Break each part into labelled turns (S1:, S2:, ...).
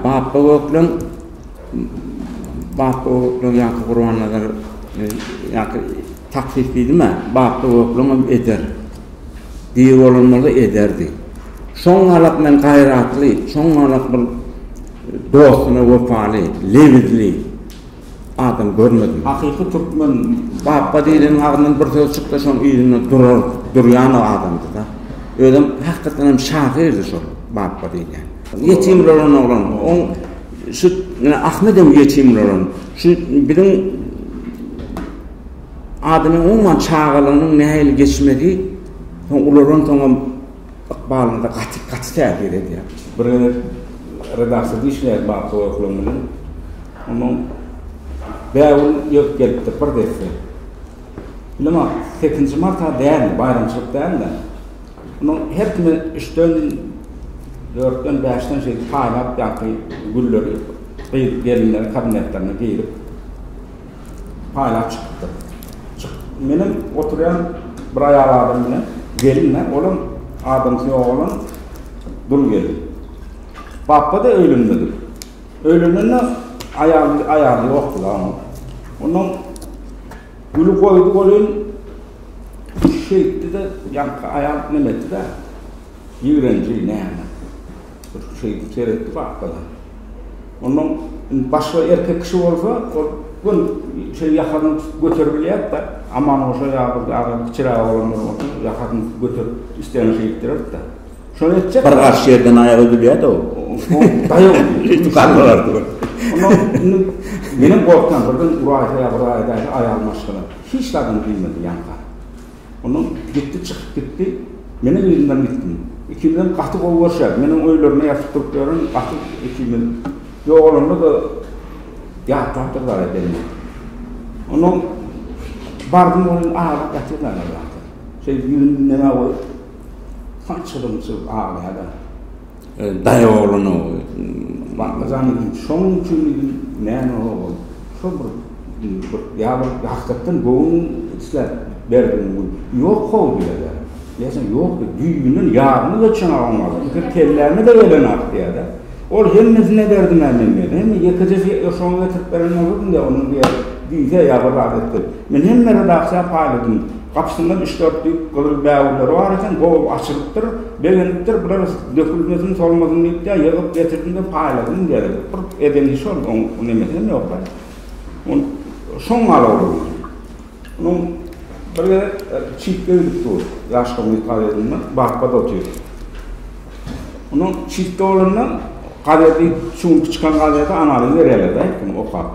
S1: Bapba Gökleň Bapba Gökleň ýa-da Gurbannazar ýa-da taksyt diýdim-ä, Bapba Gökleň hem eder. Diri bolan bolsa ederdi. Şoň galak men gaýratly, şoň galak bir dostuna wepaly, lebizli. adam görmedim. Hakyky türkmen bapba diýleniň agzyndan bir söz çyksa şoň yzynda durar durýan adamdyda. Özem hakykatdan hem şahyrdy şol bapba diýlen. Ýetim rolan oglan oň şu menä Ahmedem ýetim rolan şu biziň adamyň umuman çagalygynyň nähili geçmegi soň ulalan soňam Ykbalymda gaty, gaty täsir edýär. Bir gezek redaksiýada işleýäs Bapy Goýuklygyň bilen. Ondan Bägül ýeňip gelipdir bir desse. Bilemok, sekizinji marta däldi, baýramçylyk däldi. Ondan her kime üçden, dörtden, bäşden şeýdip paýlap ýaňky gülleri gyz gelinleriň kabinetlerine girip. paýlap çykypdyr. Çyk, menem oturýan bir aýal adam bilen, gelin-ä, olam adamsy ýok bolan dul gelin. Bapba-da öýlenmedik. Öýlenende aýal, aýaly ýokdy-la onuň. Ondan güli goýdy welin, şeýtdi-de, ýaňky aýal neme etdi-dä, ýigrenji, näme. Bir şeýdip seretdi gapdala. Ondan indi başga erkek kişi bolsa, ol göni şeý ýakasyny tutup göterip bilýärdi-de, Amangoşa ýa bir ýa-da kiçiräk oglanlar bolsa, ýakasyny tutup göterip, islegini şeý etdirerdi-de. Şony etjek. Bir garşy ýerden aýak üzülýärdi ol. Daýaw edip galdylardy bir. Ondan indi menem gorkýan, birden uraýsa ýa bir aýdaýsa aýagym aşgyna. Hiç zadyny diýmedi ýaňka. Ondan gitdi çykyp gitdi. Menem yzyndan gitdim. Ikimizem gaty gowy görşýärdik. Men oň öýlerinde ýatyp turup ýörün. Gaty ikimiz ýogalanda-da ýatlapdyr zada belli. Ondan bardym ol aglap ýatyr dagy ýerde. Şeýdip ýüzüni diňe goýup sançylyp aglaýar dagy. Daýaw oglan o. Baklajan edin şoň üçin edin näme ogul şo bir bir ýa bir hakykatdan göwün isläp berdim gül ýok how diýýädä diýýäsen ýok düýbünden ýarymy geçen oglan pikir kelläme de gelenok diýýädä ol hemmesine berdim ä men diýýär hemme ýekeje şoňa getirip beren boldum diýýär onuň diýýär düýse ýa bir zat etdi men hemme redaksiýa paýladym gapysyndan üç dört düýp gyzyl bägürleri bar eken gowy açylypdyr Begenipdir, biraz dökülmesin, solmasyn diýip-de ýygyp getirdim-de paýladym deri. Bir edeni şol, oň nemesem ýok-da. Ol şoň galawulyny. Onuň bir gezek çitge gidip dur, ýaşkymyz podýezdinde barpad otyr. Onuň çitge bolanda gazedi, şu günki çykan gazedi Analyň berýärler-de, aýtdym, okap.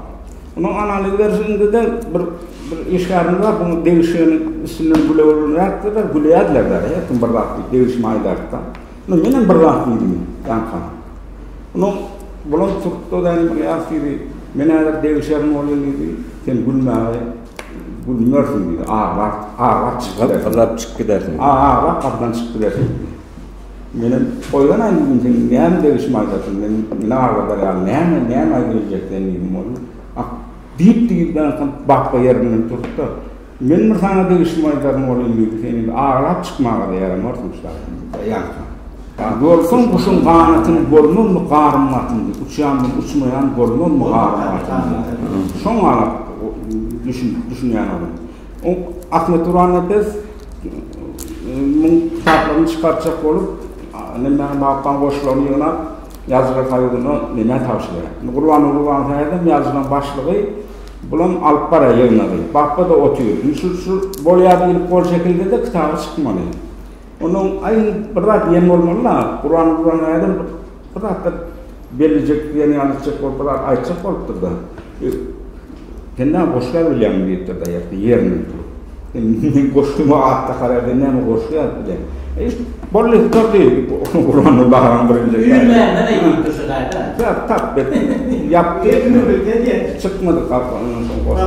S1: Munuň analiz berşinde-de bir bir işgärimiz bar, bu degişgeniň üstünden gülewerilenräkdirler, gülýärlerler, her kim bir zat diýip degişme aýdarka. Indi menem bir zat diýdim ýaňka. Munuň bulam turtda da bir ýas diýdi, men häzir degişerin bolýan diýdi, sen gülmäge gülmersiň diýdi, aglar, aglar çykyp gidersiň. Aglar, aglar gapydan çykyp gidersiň. Menem oýlanaýyn bu gün sen näme degişme aýdarsyň, men ine agladar ýaly näme, näme aýdyp biljek sen diýdim oglum. Ak, diýip diýibdäňsoň Bapba ýerinden turdy-da, Men bir saňa degişme aýdaryn oglum diýdi, sen indi aglap çykmaga-da ýaramarsyň şaýyň, daýansyň. Görseň guşuň ganatyn bolmazmy garym gatyn diýip, uçýandyr uçmaýan bolmazmy garym gatyn diýip. Şoňa-a düşünýän oglum. Ahmet Durannepes muň kitaplaryny çykartjak bolup, Nemmäň Lapbaň goşgularyny ýygnap, Ýazyjylar soýuzyna Nemä tabşyrýar. Indi Gurbanguly bagyň häzirem ýazyjylaryň başlygy, bulam alyp barýar ýygnagy. Bapba-da otyr. Indi şu bolýar diýlip gol çekildi-de, kitaby çykmaly. Onuň aý bir zat diýen bolmaly da, Kuran Kuran nädip bir zatlar bellejek diýen ýaly etjek bolup bir zat aýtjak bolupdyr da. Sen näme goşgy ýazyp bilýäňmi diýipdir da ýerden ýerinden turup. Men goşgymy atda kararda näme goşgy ýazyp bilýän. Eý bolly durdy Kuranyň baran birinji. Ýüz mänden
S2: aýdypdyr şu gaýda. Ýa tap bet.
S1: Ýapdy. Çykmady kafandan soň goşgy.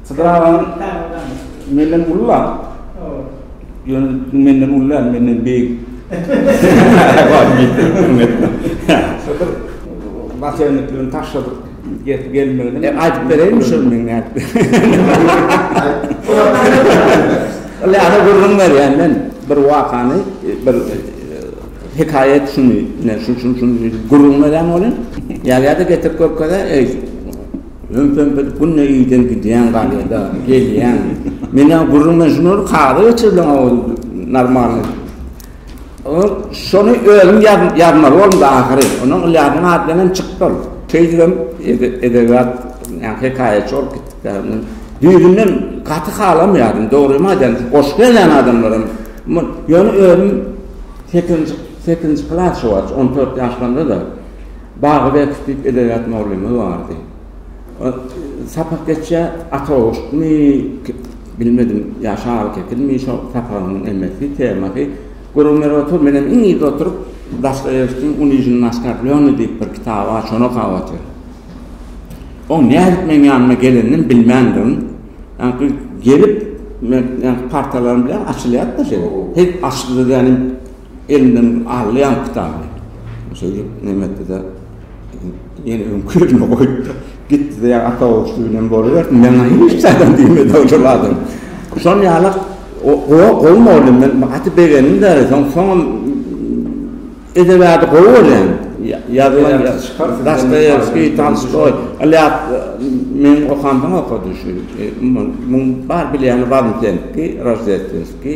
S1: Sydyr agam menden ulla. Ýöne menden uly däl, menden beýik. Sydyr naçelniklerini taşladyk gelip gelmegine. E, aýdyp bereýin
S3: şol meň nätdi. Ýa-da gürrüň berýän men bir wakany, bir hekaýat şuny, şu şu şu gürrüň berýän bolýan. Ýa-da getirip görkezä, eý, Öňkem biz günde iyden gidýän galýada gelýän. Menä gürrüň men şunur kagyza geçirdiň awy normalny. O şony özüm ýazmaly boldum da ahyry. Onuň Ylýasyň ady bilen hem çykdy ol. Şeýdibem edebiýat ýa hekaýaçy bolup gitdik däl. Men düýbünden gaty halamýardym. Dogrymy aýdan goşgy ýazýan adamlaram ýöne özüm sekizinji sekizinji klas şo wagt on dört ýaşlarymda da. Bagybek diýip edebiýat mugallymymyz bardy. Sapak geçýär, ata goşgymy, bilmedim, ýa şaly kekilmi, şo sapagyň nemesi, temasy, gürrüň berip otur, menem iň yzda oturyp, Dostoýewskiň Unižnoý oskarblenýý diýip bir kitaby bar, şony okap otyryn. Oň nädip meň ýanyma gelenini bilmändirin. Ýaňky gelip, men ýaňky partalarym bilen açylýar-da şeýle. Hek açdy-da, ýaňy. Elinden aldy ýaňky kitaby. Şeýdip, Nemetde-de ýene öňki ýerine goýupdyr. Gitdi-de, ýa ata oguşdy bilen bolubersin, maňa hiç zadam diýmedi ojal adam. Şol ýaly gowy mugallym, men gaty begendim-de, soň-soňam edebi ady gowy bolýan. Ýazylan Dostoýewskiý, Tolstoý, Ilýas meniň okamdan okady şu, muň bar bilýäni Wazmtenskiý, Roždestwenskiý.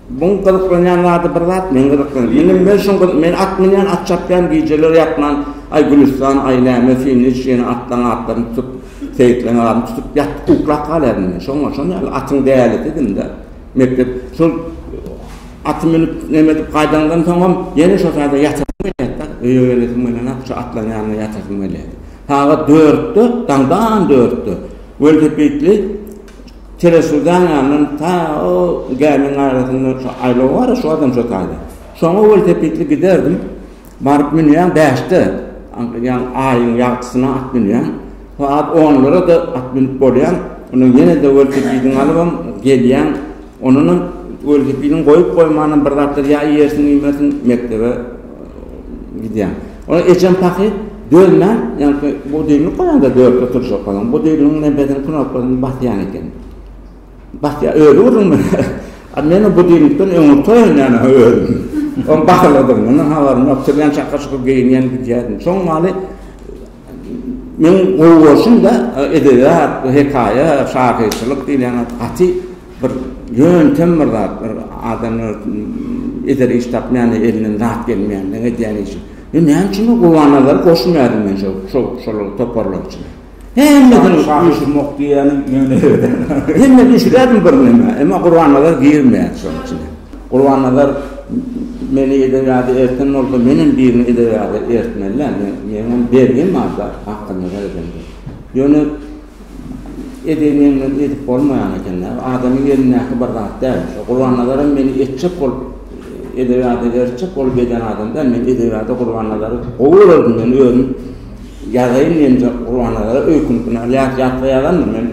S1: Muň gyzyklanýan
S3: zady bir zat men gyzyklanýan ine men şoň gyz men at münýän at çapýan gijeler ýatman aý Gülüstan aý näme sen niçik ýene atlaň atlaryny tutup seýitleň aryny tutup ýat uklap galýaryn men şoňa şon ýaly atyň dälisi diýdim de mekdep şol aty münüp neme edip gaýdanymdan soňam ýene şo saýda ýatasym gelýärdi da öýe gelesim gelenok şo atlaň ýanyna ýatasym gelýärdi sagat dörtde daňdan dörtde welosipedli Teresudan ýandan ta o gämiň arasynda şo aýlaw bar-a, şo adam şo taýda. Şoňa welosipedli giderdim. Baryp münýän bäşde, ýagny aýyň ýagtysyna at münýän. Sagat onlara-da at münüp bolýan. Ondan ýene-de welosipediňi alybam gelýän. Ondanam welosipediň goýup goýmanam bir zatlar ýa iýersiň iýmersiň mekdebe gidýäň. Ol ejem pahyr dözmän ýaňky budilnik goýanda dörtde turjak bolan budilnigiň nebesini knopkasyny basýan eken. Basýa özi urun bilen. A men o budilnikden öň oturýan ýa-da özüm. Ol basylydygyny habarym ýok. Turýan çakyr-çukyr geýinýän gidýärdim. Şoň maly Men gowy bolsun-da, edebiýat, bu hekaýa, şahyrçylyk diýilýän zat gaty bir ýöntem bir zat, bir adamlar eder iş tapmaýanda elinden zat gelmeýänleň edýän işi. Men näme üçin Gurbannazary goşmaýardym men şo, şol, şol toparlar içine. Hemmesini şahyr-şumok
S1: diýýäniň ýöne. Hemme düşürýärdim
S3: bir neme, emma Gurbannazar girmeýärdi şoň içine. Gurbannazar Meni edebiýada erten bolsa menem birini edebiýada ertmelä meňem bergim barda hakda nazar edende. Ýöne edeni meňden edip bolmaýan ekendä adamyň elindäki bir zat däl şo Gurbannazaram meni etjek bolup edebiýada ertjek bolup eden adam däl men edebiýada Gurbannazary gowy görerdim men özüm ýazaýyn diýenje Gurbannazara öýkünip ýat ýatga ýazandym men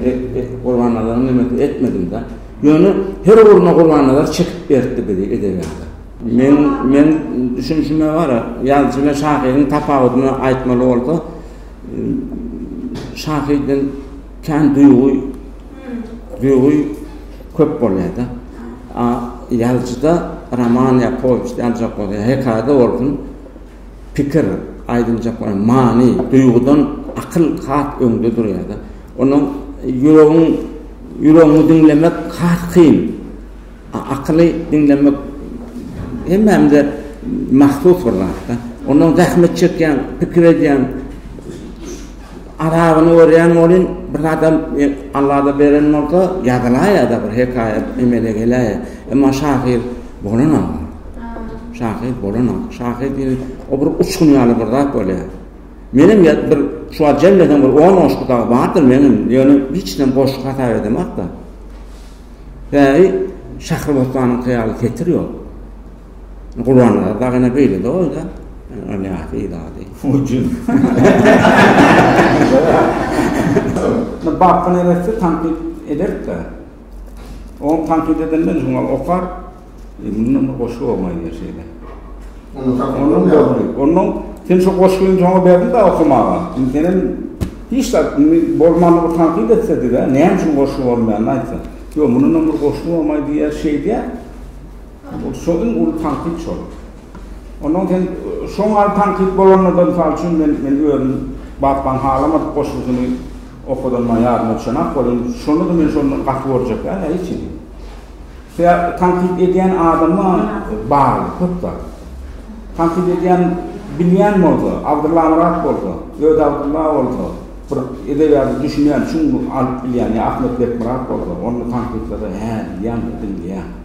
S3: Gurbannazaryň demesini etmedimdä. Ýöne her ugruna Gurbannazar çekip beripdi bizi edebiýata. Men men düşünişime gara, ýazyjy bilen şahyryň tapawudyny aýtmaly bolsa, şahyrdan kän duýgy duýgy köp bolýar-da. A ýazyjyda roman ýa powest ýaljak bolsa, hekaýada bolsun, Pikir, aýdyljaklar ýaly, many, duýgudan akyl has öňde durýar-da. Onda ýüregiň, ýüregiňi diňlemek has kyn. A akyly diňlemek hemmämize mahsus bir zat-da. Ondan zähmet çekýäň, pikir edýäň. Arabyny görýän welin, bir zadam Allada beren bolsa, ýazylaýa-da, bir hekaýat emele geläýe. Emma şahyr bolanam bar. Şahyr bolanam bar. Şahyr diýen o bir uçgun ýaly bir zat bolýar. Menem bir şu wagt jemlesem bir on goşgy dagy bardyr meniň, ýöne hiç näme goşgy hasap edemok-da. Bäri Şahrybostanyňky ýaly setir ýok. Gurbannaza dagyna beýlede bolsa, Ylýasy ýylady.
S1: Hujum. Indi Bapka neresse tankyt ederik-de. Oň tankyt edenden şoňa okar. Mundan bir goşgy bolmaýar diýer şeýle. Ondan sen şu goşgyny şoňa berdiň-de okamaga. Indi sen hem hiç zat indi bolmany bir tankyt etse-de, näme üçin goşgy bolmaýandyny aýtsa. Ýok, mundan bir goşgy bolmaýar diýer şeýdýär. Ol şo iň uly tankyt şol. Ondan sen şo mahaly tankyt bolanda-da, mysal üçin, men men özüm Batman halamadyk goşgusyny okadanma ýadyma düşenok, welin, şony-da men şondan gaty görjekdäl ä hiç hili. Sebä tankyt edýän adama bagly köp zat. Tankyt edýän bilýän bolsa, Abdyllamyrat bolsa, Öt Abdylla bolsa, bir edebiýada düşünýän, çuň alyp bilýän ýa Ahmet Bekmyrat bolsa, onda tankytlary hä diýýäň-de diňleýäň.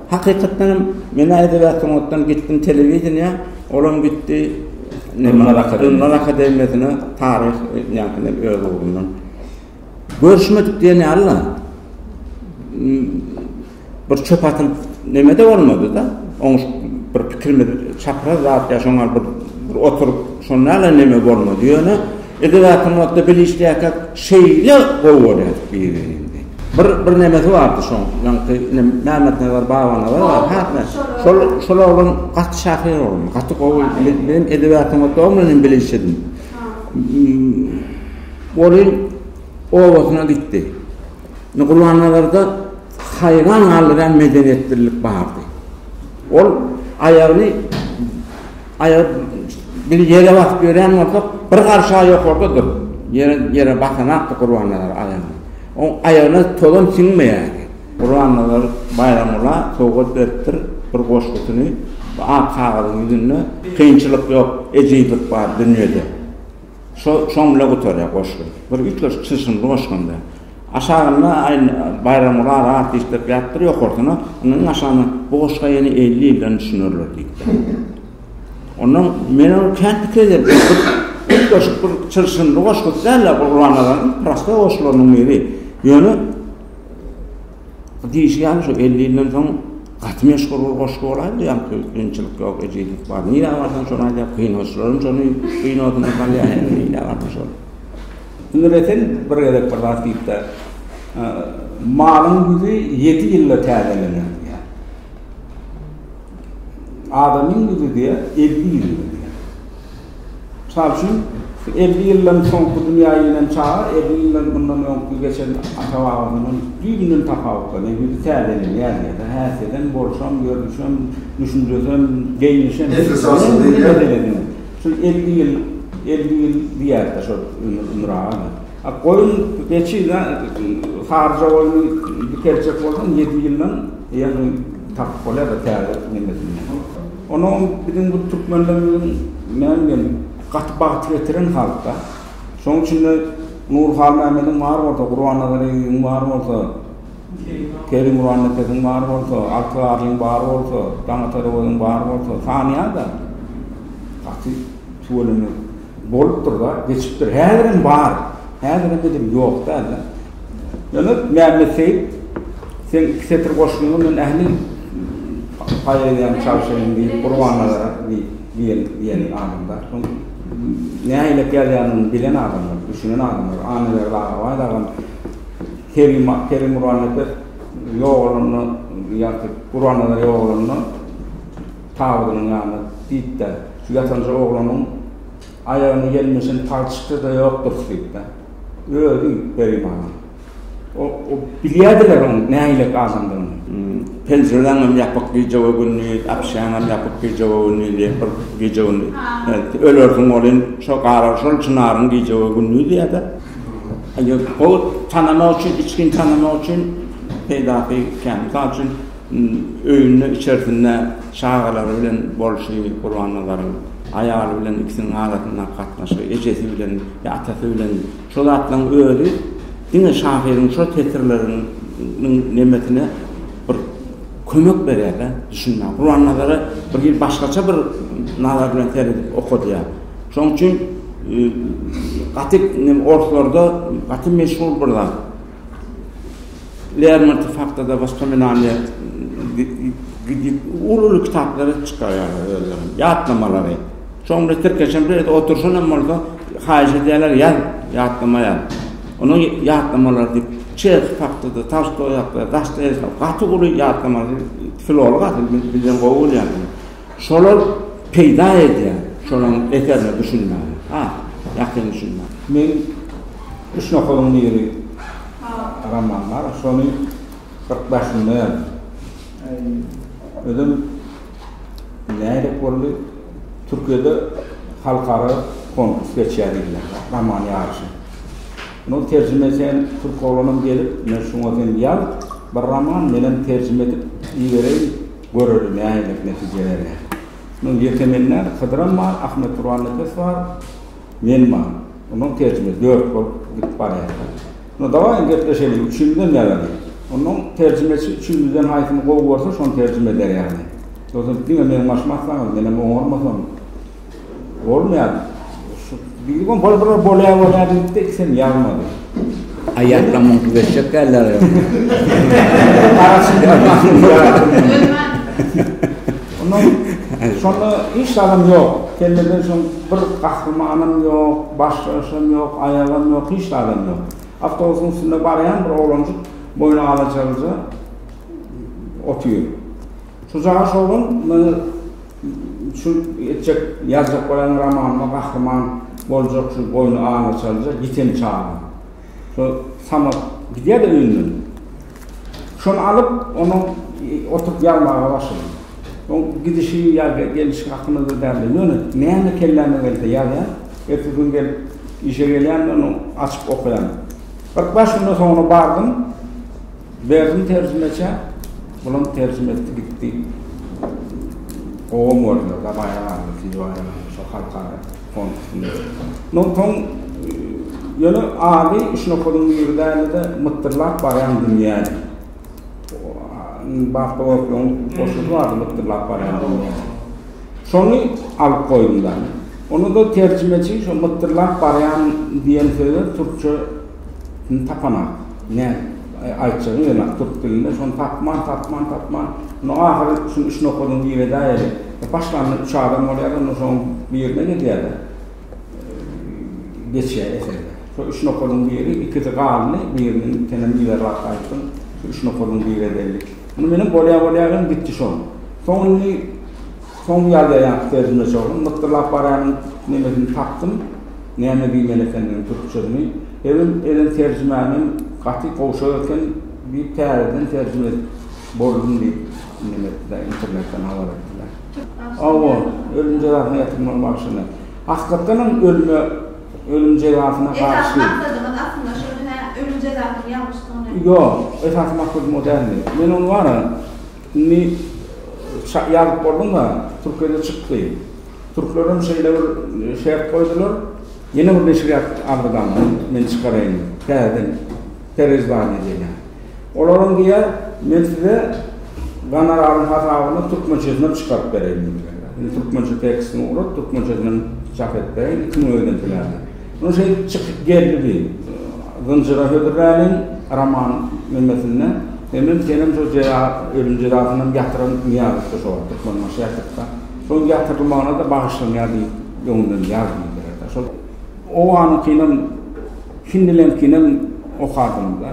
S3: Hakykatdan hem men ädebýat sungatdan gitdim telewideniýa, olam gitdi Durnlar akademiýasyna taryh ýaňkyndan öz ugrundan. Görüşmedik diýen ýaly-la bir çöp atylyp neme-de bolmady-da, oňuşyp bir pikirimiz çapraz zat ýa şoňa bir oturyp şonda-la neme bolmady. Ýöne Edil aýtmakda bile işleýärkä şeýle gowy bolýar biri indi. Bir bir nemesi bardy şoň ýaňky ine Mämmetnazar Babanazar bar häkme şol şol oglan gaty şahyr oglan gaty gowy men edil aýtmakda o bilen hem bile işledim. Welin obasyna gitdi. Indi Gurbannazarda haýran galdyrýan medeniýetlilik bardy. Ol aýagyny Aýagy bir ýere basyp ýörýän bolsa, bir garşy aýagy ýokarda dur. Ýere ýere basanakdy Gurbannazar aýagyny. Oň aýagyna tozan siňmeýärdi. Gurbannazar Baýramgula sowgat beripdir bir goşgusyny. Bu ak kagyzyň ýüzünde kynçylyk ýok, ejizlik bar dünýede. Şo şoň bile gutarýar goşgy. Bir üýtgeşik çylşyrymly goşgyndy. Aşagynda aýn Baýramgurara at işlep ýapdyr, ýokarsyna indi iň aşagyna bu goşga ýene elli ýyldan düşünerler diýipdir. Ondan men ony kän pikir ederdim. Üýtgeşik bir çylşyrymly goşgusy däl-ä Gurbannazaryn prosta goşgularynyň biri. Ýöne Diýşi ýaly şu elli ýyldan soň gaty meşhur bir goşgy bolaýmady ýa kynçylyk ýok ejizlik bar nirä barsaň şony aýdýar kynagyçylaram şony kinosyna salýar indi nirä barsaň şony. Indi Resen
S1: bir gezek bir zat diýipdir. Malyň ýüzi ýedi ýylda täzelener diýýär. Adamyň ýüzi diýýär elli ýylda diýýär. Mysal üçin, elli ýyldan soňky dünýä inen çaga elli ýyldan mundan öňki geçen ata-babasyndan düýbünden tapawutlanýar, ýüzi täzelenýär ýa-da häsiýedem, bolşam, görnüşem, düşünjesem, geýnişem, şol
S4: elli ýyl,
S1: elli ýyl diýýäris-de şol Ömür aga. A goýun, geçi, saryja goýny dikeljek bolsaň, ýedi ýyldan ýaňy tapyp bolýar-da täze nemesini. Onuň biziň bu türkmenlerimiziň näme diýen gaty bagt getiren halkda. Şonuň üçin-de Nur Halmämmediň bar bolsa, Gurbannazar Eýýubyň bar bolsa, Kerimguran Nepesiň bar bolsa, Alty Garlyň bar bolsa, Daňatar Owazyň bar bolsa, sanýa-da gaty tüweleme Bolupdyr bar, geçipdir. Häzirem bar. Häzirem edil ýok däl-de. Ýöne Mämmet Seýit seň iki setir goşgyňy men ähli poeziýaňy çalşaýyn diýip Gurbannazara diýen diýeni adam bar. Şoň nähilek ýazýanyny bilen adamlar, düşünen adamlar. Annaberdi Agabaý dagam Kerim Kerim Gurannepes ýogalanda ýa-da Gurbannazar ýogalanda Tabydynyň ýanyna diýip-de, şu ýatanja oglanyň aýagyna ýelmeşen palçyk-da ýokdur diýip-de, özi Peri mama. O, o bilýärdiler onuň nähilek adamdygyny.
S3: Penjireleňem ýapyk gije-we-gündiz, apşýaňam ýapyk gije-we-gündiz diýip, bir gije-gündiz ölersiň welin, şo gara, şol çynaryň gije-we-gündiz diýer-de. Ýok, ol tanamak üçin, içgin tanamak üçin peýdasy kän. Mysal üçin. Öýünde içersinde çagalary bilen bolşy Gurbannazaryň aýaly bilen ikisiniň arasyndaky gatnaşygy, ejesi bilen ýa atasy bilen şo zatlaryň özi diňe şahyryň şo setirleriniň nemesine bir kömek berýärde düşünmäge. Gurbannazara bir hili başgaça bir nazar bilen seredip okadýar. Şoň üçin gaty orslarda gaty meşhur bir zat. Lermontow hakda-da Wospominaniýa uly-uly kitaplary çykarýarlar özleriniň, ýatlamalary. Şonda tirkeşen bir ýerde oturşan hem bolsa, haýyş edýärler, ýaz, ýatlama ýaz. Onuň ýatlamalary diýip, Çehow hakda-da, Tolstoý hakda-da, Dostoýewski hakda-da gaty uly ýatlamalar, filolog asyl, bilen gowy bolýar. Şolar peýda edýär, şolaň eserine düşünmäge, ha, ýakyn düşünmäge. Men
S1: Üç nokadyň biri roman bar, şony bir daşynda ýazdym. Özem nädip boldy, Türkiýede halkara konkurs geçýär diýdiler, roman ýaryşy. Men ol terjime etýän türk oglanam gelip, men şuňa sen ýaz bir roman, menem terjime edip ibereýin, Göreli nähililik netije berýär. Munuň ýeke men däl, Hydyram bar, Ahmet Gurannepes bar, men bar. Ondan terjime dört bolup gidip barýarys. Onda dawaýyň gepleşeliň, üçümizem ýazalyň. Ondan terjimeçi üçümizden haýsyny gowy görse, şony terjime eder ýaly. Ýogsa diňe meniň başymy atsaňyz, menem oňarmasam. Bolmaýar. Şu biri gon bol bol bolýar bolýar diýipdi, ikisem ýazmady. Haýatda
S3: muňky geçjek däldir ýa.
S1: Ondan şonda hiç zadam ýok. Kellede şol bir gahrymanam ýok, baş daşam ýok, aýagam ýok, hiç zadam ýok. Awtobusyň üstünde barýan bir oglanjyk boýny alaja gyja otyr. Şu jaňa şowhun meni şu etjek ýazjak bolýan romanymda gahryman boljak şu boýny aňa çaljak ýiten çaga. Şu Samet gidýär-de öýünden. Şony alyp onuň oturyp ýazmaga başladym. Oň gidişi ýa gelişi hakynda-da däldi. Ýöne näme kelläme gelse ýazýan. Ertesi gün gelip işe gelýän-de ony açyp okaýan. Kyrk bäş günden soňra bardym. Berdim terjimeçä, bulam terjime etdi gitdi. Gowam boldy, gabaýa galdy, ikinji baýramyň şo halkara konkursynda. Mundan soň ýöne ady şunakalyň biri däldi-de, mytdyrlap barýan dünýädi. Batly Gopluň goşgusy bardy, Mytdyrlap barýan dünýä. Şony alyp goýdum-da. Onda-da terjimeçi şo mytdyrlap barýan diýen söze türkçe Indi tapanok. Nädip aýtjagyny bilenok türk dilinde. Şony tapman, tapman, tapman. Onda ahyry şuny üç nokadyny girizäýeli. Başlanda üç adam bolýar-da, onda şoň birine gidýär-de, geçýär eserler. Şo üç nokadyň biri, ikisi galdy, birini senem yzarlap aýtdyň. Şu üç nokadyň biri edelilik. Muny menem bolýa-bolýa gitdi şo. Soň indi. Soň ýal ýaýaňky terjime çogum mytdyrlap barýaryn, nemesini tapdym, näme diýmeli ekendigini türkçesini. Ebin eden terjimämem gaty gowşak eken diýip täzeden terjime edip boldum diýip neme etdiler, internetden habar etdiler. Hawa, ölüm jezasyna ýatyrmagy bagşyny. Hakykatanam ölüme, ölüm jezasyna Esasy garşy. maksadyňyz aslynda
S5: şumy hä, ölüm jezasynyň ýalňyşdygyny? Ýok, esasy
S1: maksadym o däldi. Men ony bara. Indi ça ýazyp bolduňa türkiýede çyk diý. Türklerem şeýle bir şert goýdular. Ýene bir neşirýat aldydan men çykaraýyn täzeden pereizdaní diýýän. Olaram diýýär men size gonoraryň hasabyna türkmençesinem çykaryp bereýin diýýär. Indi türkmençe tekstini ugrat türkmençesinem çap edip bereýin. Iki müň öýden töläňiz. Muny şeýdip çykyp geldi diý. Zynjyra hödürläliň roman nemesinde hemem senem şo jeza ölüm jezasynam ýatyran Nyýazowda şo wagt Türkmenbaşy ýatypda. Şoň ýatyrylmagyna-da bagyşlanýar diýip öňünden ýaz diýdiler-de. Şol owanyňkynam hindileňkinem okadym-da.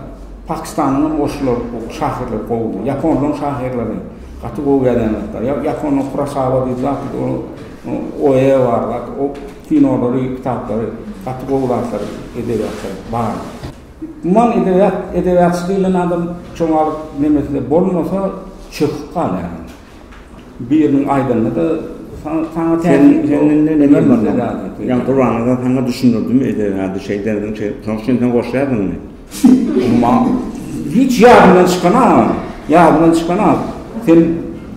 S1: Pakistanyňam goşgular şahyrlar gowy. Ýaponlaň şahyrlary gaty gowy ýazýan zatlar. Ýaponyň Kurasaba diýip zat bir oýe bar zat. Kinolary, kitaplary, gaty gowy zatlary, edebiýatlary bar. Umuman edebiýat, edebiýatçy diýlen adam çogalyk nemesinde bolmasa çöküp galýar. Biriniň aýdanyny-da saňa täsir
S3: edýär. Ýa Gurbannaza saňa düşündirdimi edebiýady şeý derdiň şeý. Soň sen goşýardyňmy? Emma
S1: hiç ýadymdan çykana, ýadymdan çykana sen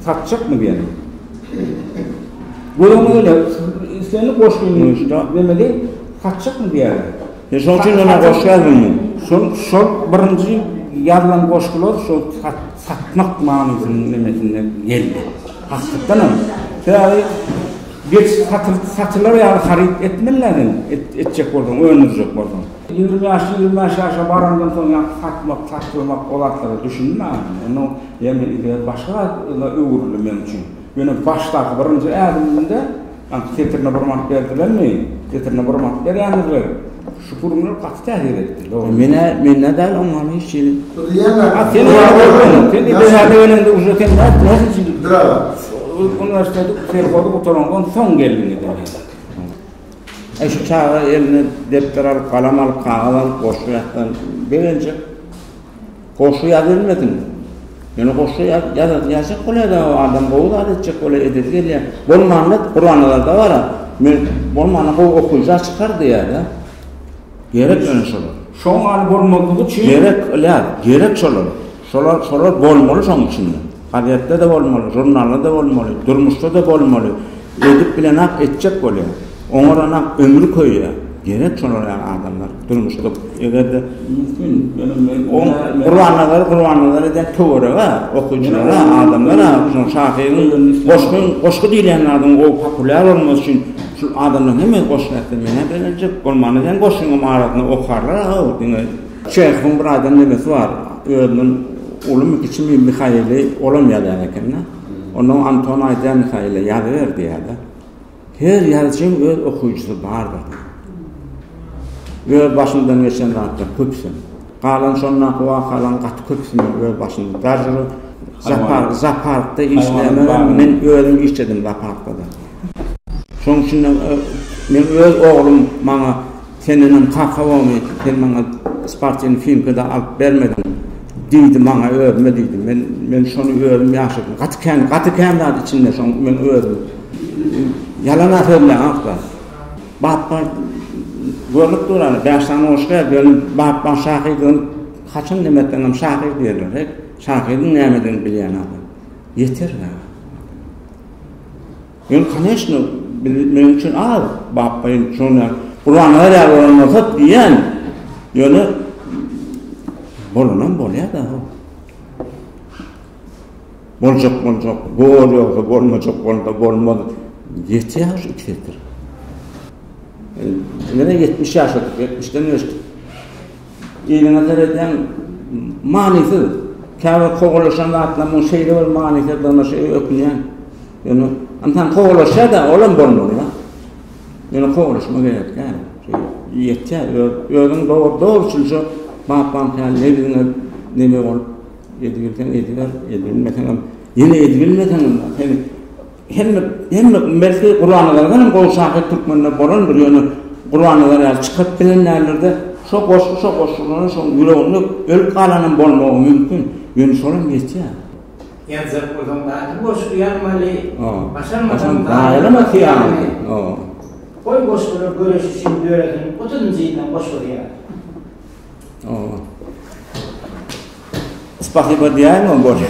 S1: satjakmy diýeni. Göreňe gele, islendik goşgyny demeli satjakmy diýäýer. Sen şoň üçin ýöne
S3: goşgy ýazdyňmy? Şol, şol
S1: birinji ýazylan goşgular şol satmak manysynyň nemesinde geldi. Hakytdanam. Sebäbi geç satylar ýaly haryt etmeli-dä sen, etjek bolsaň, öndürjek bolsaň. Ýigrimi bäş, ýigrimi bäş ýaşa barandan soň ýa satmak, taşlamak o zatlara düşünmärin. Onuň ýene yzy başga zada öwrüldi meň üçin. Ýöne başdaky birinji ädimimde, ýa setirine bir manat berdilermi, setirine bir manat berýändirler. Şu gürrüňler gaty täsir etdi, dogry. Men-ä, men-ä däl,
S3: oňa hiç hili. Ýa sen näme görüň?
S1: Sen Iberaýa gelende uje sen nädip? Uniwersiteti, serhody gutaraňdan soň geldiňiz. Äý şu çaga
S3: eline depder alyp, galam alyp, kagyz alyp goşgy ýazsa begenjek. Goşgy ýaz bilmesin. Ýöne goşgy ýazasy ýazjak bolýada, adam gowy zat etjek bolýa, edesi gelýä. Bolmanda Gurbanazarda bar-a, men bolmanda gowy okyja çykar diýýä-de. Gerek ýöne şolar. Şoň ýaly bolmazlygy
S1: üçin. Gerek, ýa, gerek
S3: şolar. Şolar, şolar bolmaly şoň üçin. Gazetde-de bolmaly, žurnalda-da bolmaly, durmuşda-da bolmaly. Edip bilenak etjek bolýar. Oňaranak ömri köýýär. Gerek şolar ýaly adamlar durmuşda. Eger-de mümkin, ýöne men oňa Gurbannazary Gurbannazar edýän töwerege, okyjylara, adamlara şol şahyryň goşgy, goşgy diýilýän zadyň gowy populýar bolmasy üçin şu adamlaryň hemmesi goşgy aýtsa men-ä begenjek. Bolmanda seniň goşgyňam arasyna okarlar-a-ow diňe. Çehowyň bir aýdan nemesi bar, özünden ulymy, kiçimi Mihaili olam ýazýan eken-de. Onda Anton aýdýar Mihaile, Ýazyber diýýär-de. Her ýazyjyň öz okyjysy bardyr diýýär. Öz başymdan geçen zatlar köpüsem. Galan şondaky wakalaryň gaty köpüsi meniň öz başymdan. Dažir zoopark, zooparkda işlänlerem men özüm işledim zooparkda-da. Şonuň üçin-de men öz oglum maňa. Sen önem kaka bomy sen maňa spartini filmkada alyp bermediň diýdi maňa özüme diýdi men men şony özüm ýaşadym gaty kän gaty kän zat içinde şoň men özüm ýalana sözleýanokda bap bar görnüp dur ana bäş sany goşgy ýaz ýöne bap bar şahydygym haçan neme etseňem şahyr diýerler he şahyryň nämedigini bilýän adam ýeter ya. Ýöne koneçno biz meniň üçin az bapbaýyn düşünýän Gurban Garýagy bolan bolsa diýýän ýöne bolanam bolýar da ho. Boljak boljak bor ýogsa bolmajak bolanda bolmaz ýetýär şu iki setir. Ýöne ýetmiş ýaşa ýetmişden geçdik. Eliňe seredýäň, manysyz. Käbir kowalaşan zatlaryň şeýle bir manysyzdygyna şeýle ökünýän. Ýöne ynsan kowalaşýar-da, olam bolmaly-da. Ýöne kowalaşma gerek däl. Ýetýär, özüň dogry, dogruçylja bapbaň kän, nebiziňe neme bolup, edibilseň ediber, edibilmeseňem, ýene edibilmeseňem, seni Hemme hemme belki Gurbannazarydan hem gowy şahyr türkmende bolandyr ýöne Gurbannazar ýaly çykaryp bilen däldir-de şo goşgy şo goşgylaryň şoň ýüreginde ölüp galanam bolmagy mümkin ýöne şolam ýetýär. Ýazjak
S2: bolsaň daşy
S3: goşgy ýazmaly başarmasaň gaýyrma syýasaty goý goşgular göreşi
S2: üçin döresin otuz njy ýyldan goşgy ýaz.
S3: Spasiba diýäýmä bolýa.